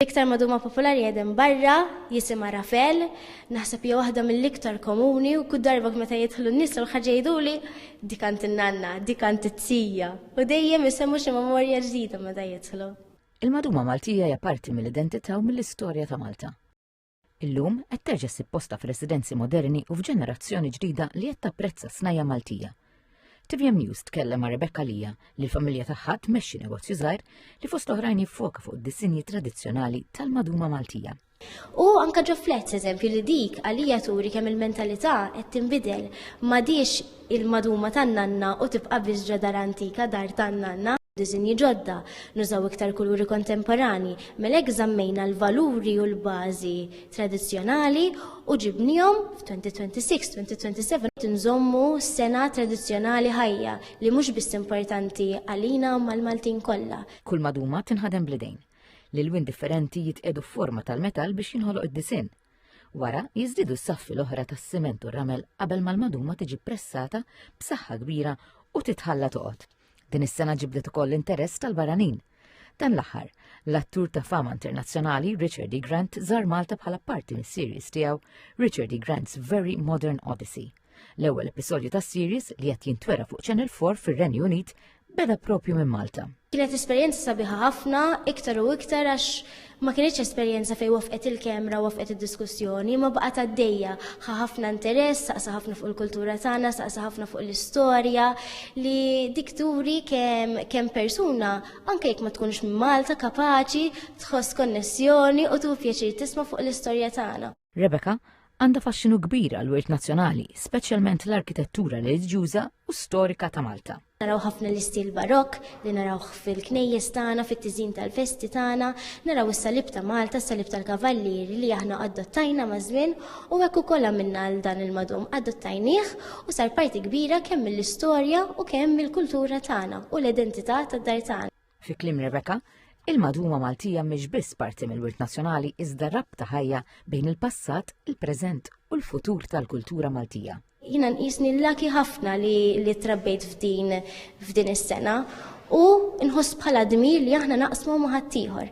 L-iktar maduma popolari qegħdin barra, jisimha Rafel, naħseb hija waħda mill-iktar komuni u kull darba meta jidħlu n-nies u l-ħaġa jgħiduli dik għand in-nanna, dik għand it-tija u dejjem isemmu xi memorja ġdida meta jidħlu. Il-maduma Maltija hija parti mill-identità u mill-istorja ta' Malta. Illum qed terġa' ssib posta f'residenzi moderni u f'ġenerazzjoni ġdida li qed tapprezza snajja Maltija. TVM News tkellem ma' Rebecca Lija li l-familja tagħha tmexxi negozju żgħir li fost oħrajn jiffoka fuq id-disinji tradizzjonali tal-maduma Maltija. U anka ġo flet, eżempju, li dik għalija turi kemm il-mentalità qed tinbidel ma diex il-maduma tan-nanna u tibqa' biss ġo dar antika, dar tan-nanna. Disinji ġodda, nużaw iktar kuluri kontemporanji, mela hekk żammejna l-valuri u l-bażi tradizzjonali u ġibniehom f'2026, 2027 qed inżommu sena tradizzjonali ħajja li mhux biss importanti għalina imma l-Maltin kollha. Kull maduma tinħadem bl-idejn. L-ilwien differenti jitqiegħdu f'forma tal-metall biex jinħoloq id-disinn. Wara jiżdiedu s-saffi l-oħra tas-siment u r-ramel qabel ma l-maduma tiġi pressata b'saħħa kbira u titħalla toqgħod. Din is-sena ġibdet ukoll l-interess tal-baranin. Dan l-aħħar, l-attur ta' fama internazzjonali Richard E. Grant żar Malta bħala parti mis-series tiegħu Richard E. Grant's Very Modern Odyssey. L-ewwel episodju ta' series li qed jintwera fuq Channel 4 fir-Renju Unit beda propju minn Malta. Kienet esperjenza sabiħa ħafna, iktar u iktar għax ma kienitx esperjenza fejn wafqet il-kamera u wafqet id-diskussjoni, ma baqgħet għaddejja. Ħa ħafna interess, saqsa ħafna fuq il-kultura tagħna, saqsa ħafna fuq l-istorja li dik turi kemm persuna anke jekk ma tkunx minn Malta kapaċi tħoss konnessjoni u tu pjaċir tisma' fuq l-istorja tagħna. Rebecca għandha faxxinu kbir għal wirt nazzjonali, speċjalment l-arkitettura reliġjuża u storika ta' Malta. Naraw ħafna l-istil barokk li naraw fil-knejjes tagħna, fit-tiżin tal-festi tagħna, naraw is-salib ta' Malta, s-salib tal-kavallier li aħna adottajna ma' żmien u hekk ukoll għamilna għal dan il-madum adottajnieh u sar parti kbira kemm mill-istorja u kemm mill-kultura tagħna u l-identità tad-dar tagħna. Fi kliem Rebecca, il-madwuma Maltija mhix biss parti mill-wirt nazzjonali iżda rabta ħajja bejn il-passat, il-preżent u l-futur tal-kultura Maltija. Jiena nqisni l-laki ħafna li li trabbejt f'din f'din is-sena u nħoss bħala dmir li aħna naqsmu ma' ħaddieħor.